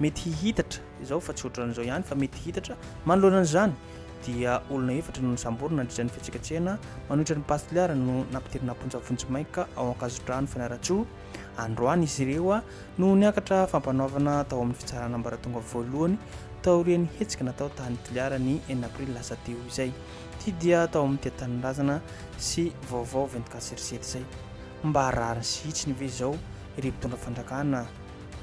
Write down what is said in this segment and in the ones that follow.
mety hihitatra izao fa tsy ohatran'izao ihany fa mety hihitatra manoloana an'izany dia olona efatra no nisamborina nandritra ny fihetsiketsehana manohitra ny Pass Toliara no nampidirina am-ponja vonjimaika ao Ankazodrano Fianarantsoa androany izy ireo no niakatra fampanoavana tao amin'ny fitsarana ambaratonga voalohany taorian'ny hetsika natao tany Toliara ny enina aprily lasa teo izay ity dia tao amin'ny tia tanindrazana sy vaovao 24 serisety izay mba rariny sy hitsiny ve izao ireo mpitondra fanjakana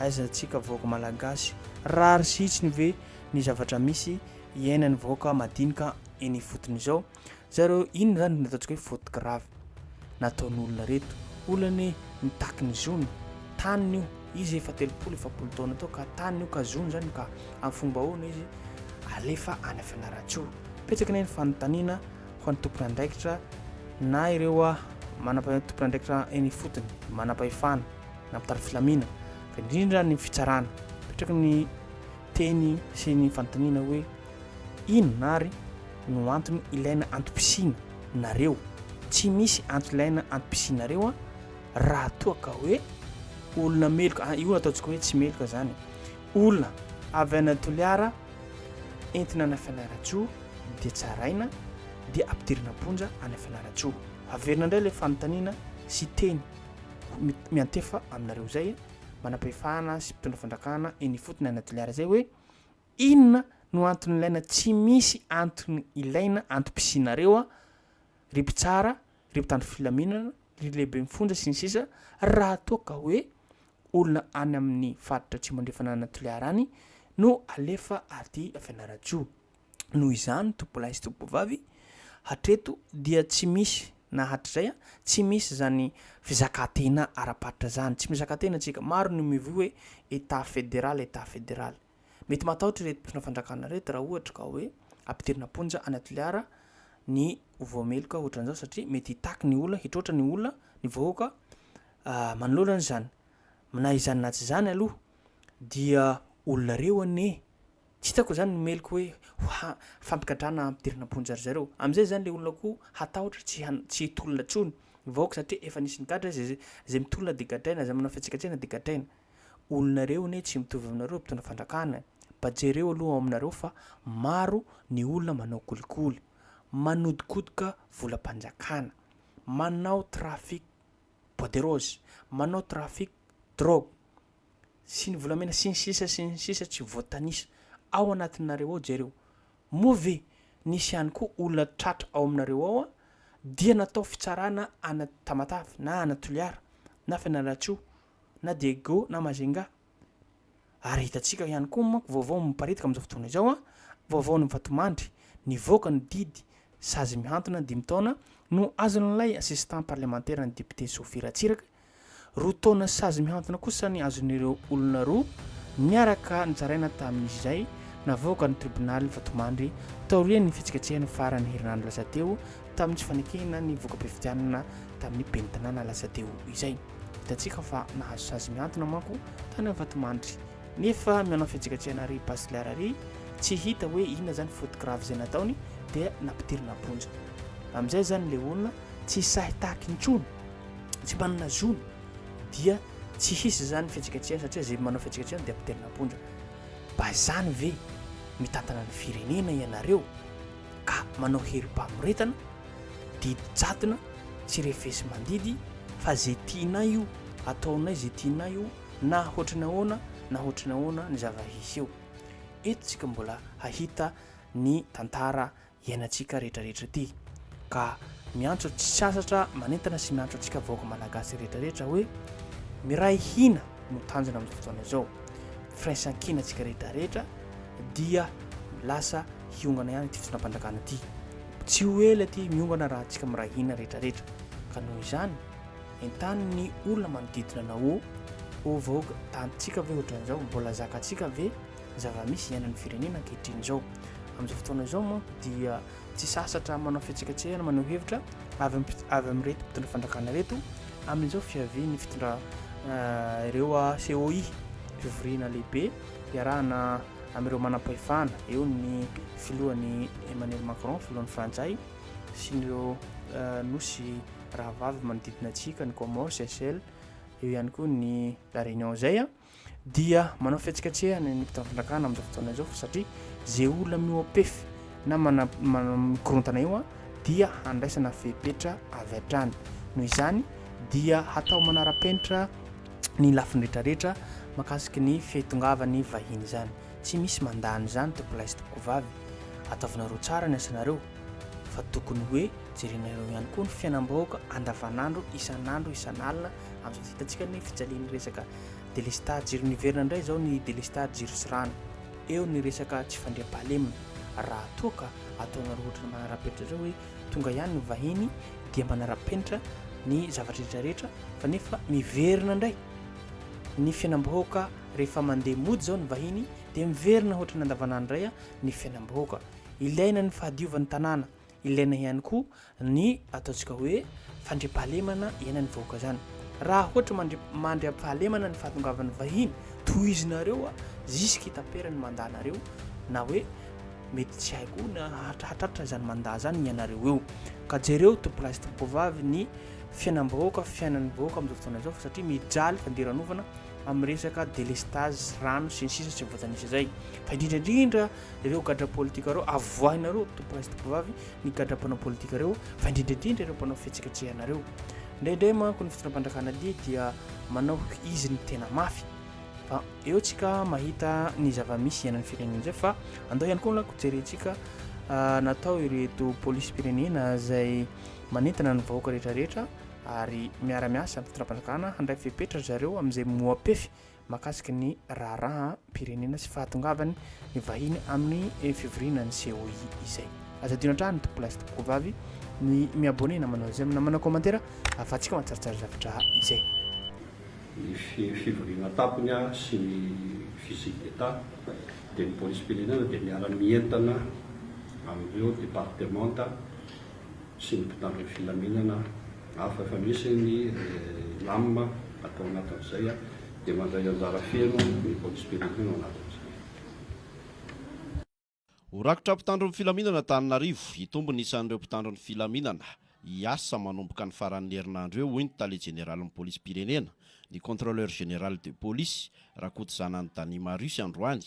Aiza antsika vahoaka malagasy? Rariny sy hitsiny ve ny zavatra misy iainan'ny vahoaka madinika eny ifotony izao? Zareo inona izany no ataontsika hoe faute grave nataon'olona reto? Olona anie mitaky ny zony, taniny io, izy efa telopolo efapolo taona teo ka taniny io ka zony izany ka amin'ny fomba ahoana izy alefa any Fianarantsoa? Betsaka anie ny fanontaniana ho an'ny tompon'andraikitra na ireo manam-pahefana tompon'andraikitra eny ifotony, manam-pahefana. nampitariko filamina fa indrindra ny fitsarana petraky ny teny sy ny fanontaniana hoe inona ary no antony ilaina antom-pisiana nareo tsy misy antso ilaina antom-pisianareo a raha toa ka hoe olona meloka ah, io ataontsika hoe tsy meloka zany olona avy any Toliara entina any Fianarantsoa dia tsaraina dia ampidirina am-ponja any Fianarantsoa averina indray ilay fanontaniana sy teny miantefa aminareo izay manampahefana sy mpitondra fandrakana eny ifotony any Toliara izay hoe inona no antony ilaina tsy misy antony ilaina antom-pisianareo ry mpitsara ry mpitandro filaminana ry lehiben'ny fonja sy ny sisa raha toa ka hoe olona any amin'ny faritra atsimo andrefana any Toliara any no alefa aty Fianarantsoa Noho izany, tompolahy sy tompovavy, hatreto dia tsy misy na hatrizay a, tsy misy izany fizakantena ara-paritra izany. Tsy mizakantena isika. Maro no mivoy hoe Etat fédéral, Etat fédéral. Mety matahotra ireto mpitondra fanjakana ireto raha ohatra ka hoe ampidirina am-ponja any Toliara ny ho voameloka ohatran'izao satria mety hitaky ny olona, hitroatra ny olona, ny vahoaka manoloana an'izany. Na izany na tsy izany aloha dia olonareo anie. Tsy hitako izany ny meloky hoe ho ha fampigadrana hampidirana am-ponja ry zareo. Amin'izay izany ilay olona koa hatahotra tsy han tsy hitolona intsony ny vahoaka satria efa nisy nigadra izay izay mitolona dia gadraina izay manao fihetsiketsehana dia gadraina. Olona reo anie tsy mitovy aminareo mpitondra fandrakana mba jereo aloha ao aminareo fa maro ny olona manao kolikoly, manodikodoka volam-panjakana, manao trafic poiderose, manao trafic drogue. sy ny volamena sy ny sisa sy ny sisa tsy voatanisa ao anatinareo ao jereo moa ve nisy ihany koa olona tratra ao aminareo ao dia natao fitsarana ana tamatave na ana toliara na fianarantsoa na diego na mazenga ary hitantsika ihany koa manko vaovao miparitaka amin'izao fotoana izao a vaovao ny vatomandry nivoaka ny didy sazy mihantona dimy taona no azon'ilay assistant parlemantera ny député Sophie Ratsiraka Roa taona sazy mihantona kosa ny azon'ireo olona roa niaraka nitsaraina tamin'izay navoakan'ny tribonaly Vatomandry taorian'ny fihetsiketsehana faran'ny herinandro lasa teo tamin'ny tsy fanekena ny voka-pifidianana tamin'ny ben'ny tanàna lasa teo izay. Hitantsika fa nahazo sazy mihantona manko tany amin'ny Vatomandry nefa mianao fihetsiketsehana ary Basilar ary tsy hita hoe inona izany faute grave izay nataony dia nampidirina am-ponja. Amin'izay izany ilay olona tsy sahy tahaky intsony. tsy manana zony dia tsy hisy zany fihetsiketsehana satria zay manao fihetsiketsehana dia mpitelina am-ponja mba zany ve mitantana ny firenena ianareo ka manao herim-pamoretana didy jadona tsy refesy mandidy fa zay tianay io ataonay zay tianay io na hoatry ny ahoana na hoatry ny ahoana ny zava-hisy eo eto tsika mbola hahita ny tantara iainantsika rehetrarehetra ity ka miantso tsy sasatra manentana sy miantso antsika vahoaka malagasy rehetrarehetra hoe miray hina no tanjona amin'izao fotoana izao firaisankina antsika rehetrarehetra dia lasa hiongana ihany ity fitondram-panjakana ity tsy ho ela ity miongana raha antsika miray hina rehetrarehetra ka noho izany entanin'ny olona manodidina anao o vahoaka tantsika ve ohatran'izao mbola zakantsika ve zava-misy iainan'ny firenena ankehitriny izao. Amin'izao fotoana izao moa dia tsy sasatra manao fihetsiketsehana manao hevitra avy avy amin'ireto mpitondra fandrakana ireto amin'izao fiavian'ny fitondra eh, ireo ah, COI fivoriana lehibe iarahana amin'ireo manam-pahefana eo ny filohany Emmanuel Macron filohan'ny Frantsay sy ireo eh, nosy rahavavy manodidina antsika ny Comores, Seychelles eo ihany koa ny La Réunion izay ah. dia manao fihetsiketsehana ny mpitam-panjakana amin'izao fotoana izao fa satria izay olona mihoa-pefy na mana- mana- mikorontana eo a dia handraisana fepetra avy hatrany noho izany dia hatao manara-penitra ny lafiny rehetrarehetra makasiky ny fitongavany vahiny izany tsy misy mandany izany tompolahy sy tompokovavy ataovinareo tsara ny asanareo fa tokony hoe jerenareo ihany koa ny fiainam-bahoaka andavanandro isan'andro isan'alina Azo hitantsika ny fijalian'ny resaka delestage jiro niverina indray izao ny delestage jiro sy rano. Eo ny resaka tsy fandriampahalemana. Raha toa ka ataonareo ohatrany manara-penitra izao hoe tonga ihany ny vahiny dia manara-penitra ny zavatra rehetra rehetra fa nefa miverina indray ny fiainam-bahoaka rehefa mandeha mody izao ny vahiny dia miverina ohatrany andavanandro indray ny fiainam-bahoaka. Ilaina ny fahadiovan'ny tanàna. Ilaina ihany koa ny ataontsika hoe fandriampahalemana iainan'ny vahoaka izany. Raha ohatra mandri- mandriampahalemana ny fahatongavan'ny vahiny, tohizinareo a, ziskitapera ny mandanareo, na hoe mety tsy hay koa na hatrahatratra izany manda izany ny anareo eo. Ka jereo tompolahy sy tompovavy ny fiainam-bahoaka, fiainan'ny vahoaka amin'izao fotoana izao fa satria mijaly fandiranovana amin'ny resaka délestage, rano sy ny sisa sy ny voatanisa izay. Fa indrindra indrindra Ireo gadra politika ireo avoahinareo to presy tovovavy ny gadra mpanao politika ireo fa indrindra indrindra ireo mpanao fihetsiketsehana ireo indraindray manko ny fitondram-panjakana dia dia manao izy ny tena mafy fa eo tsika mahita ny zava-misy ianan'ny firenena izay fa andao ihany koa lako jerentsika ah, natao ireto polisim-pirenena izay manentana ny vahoaka rehetrarehetra ary miara-miasa ny fitondram-panjakana handray fepetra zareo amin'izay moapefy mahakasika ny raharaham-pirenena sy fahatongavan'ny vahiny amin'ny fivoriana ny COI izay. Aza adino hatrany tompoko lahy sy tompoko vavy ny mi-abonné na manao j'aime na manao commentaire ahafahantsika mahatsaritsary zavatra izay. Ny fivoriana tampony sy ny visite d'Etat dia ny polisim-pirenena dia miara-mientana amin'ireo departemanta. sy ny mpitandro ny filaminana hafa efa misy ny Renam atao anatin'izay dia mandray anjara feno ny police pénitentiaire ao anatin'izay. Ho rakotra mpitandro ny filaminana Antananarivo, hitombo ny isan'ireo mpitandro ny filaminana hiasa manomboka ny faran'ny herinandro eo hoy ny tale jeneralin'ny polisim-pirenena, ny contrôleur général de police, Rakotozanany Dany Marius androany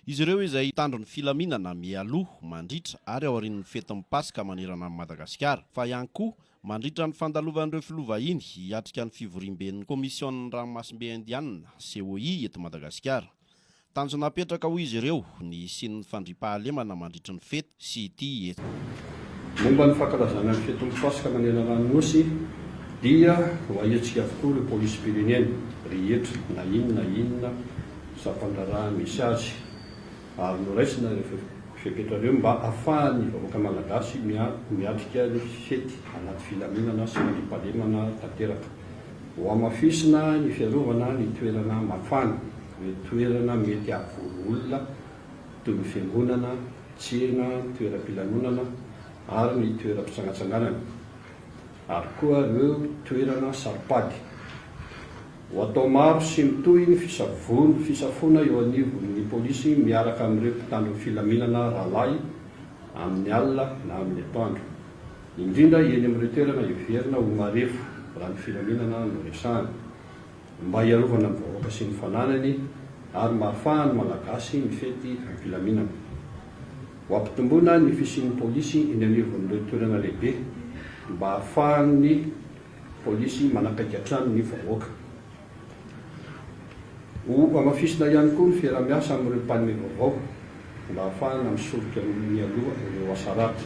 Izy ireo izay hitandro ny filaminana mialoha, mandritra ary aorian'ny fetin'ny Paska manerana an'i Madagasikara, fa ihany koa mandritra ny fandalovan'ireo filoha vahiny hiatrika ny fivoriamben'ny Komisionin'ny Ranomasimbe Indianina, COI, eto Madagasikara. Tanjona apetraka, hoy izy ireo, ny hisian'ny fandriampahalemana mandritry ny fety. sy ity eto. Momba ny fankalazana ny fetin'ny Paska manerana ny Nosy dia ho ahiantsika avokoa ireo polisim-pirenena rehetra na inn na inona sampandraharaha misy azy ary noraisina ireo fepetra ireo mba afahan'ny vahoaka malagasy miatrika ny fety anaty filaminana sy fandriampahalemana tanteraka. Hohamafisina ny fiarovana ny toerana mafana, ireo toerana mety hahavory olona toy ny fiangonana, tsena, toeram-pilanonana ary ny toeram-pitsangantsanganana ary koa ireo toerana saropady. Ho atao maro sy mitohy ny fisafoana eo anivon'ny polisy miaraka amin'ireo mpitandro ny filaminana rahalahy amin'ny alina na amin'ny atoandro, indrindra eny amin'ireo toerana heverina ho marefo raha ny filaminana no resahana. mba hiarovana ny vahoaka sy ny fananany ary mba hahafahan'ny Malagasy mifety am-pilaminana. Ho ampitomboina ny fisian'ny polisy eny anivon'ireo toerana lehibe mba hahafahan'ny polisy manakaiky hatrany ny vahoaka. Ho hamafisina ihany koa ny fiaraha-miasa amin'ireo mpanome vaovao mba hahafahana misoroka mialoha ireo asa ratsy.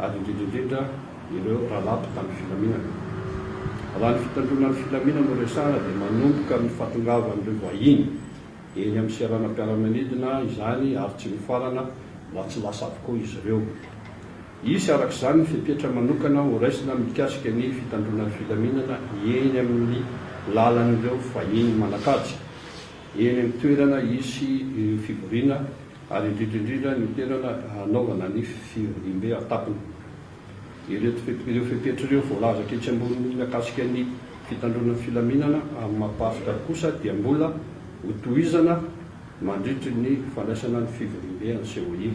ary indrindra indrindra ireo rahalahy mpitandro filaminana. Raha ny fitandroana ny filaminana no resahana dia manomboka amin'ny fahatongavan'ireo vahiny eny amin'ny seranam-piaramanidina izany ary tsy mifarana raha tsy lasa avokoa izy ireo. Hisy araka izany ny fepetra manokana horaisina mikasika ny fitandroana ny filaminana eny amin'ny lalan'ireo vahiny manan-kaja. eny amin'ny toerana hisy ireo fivoriana ary indrindra indrindra ny toerana hanaovana ny fivoriambe an-tampony. Ireo fepetra ireo voalazako etsy ambony mikasika ny fitandroana ny filaminana amin'ny maha pasika kosa dia mbola ho tohizana mandritry ny fandraisana ny fivoriambe an'i Seoil.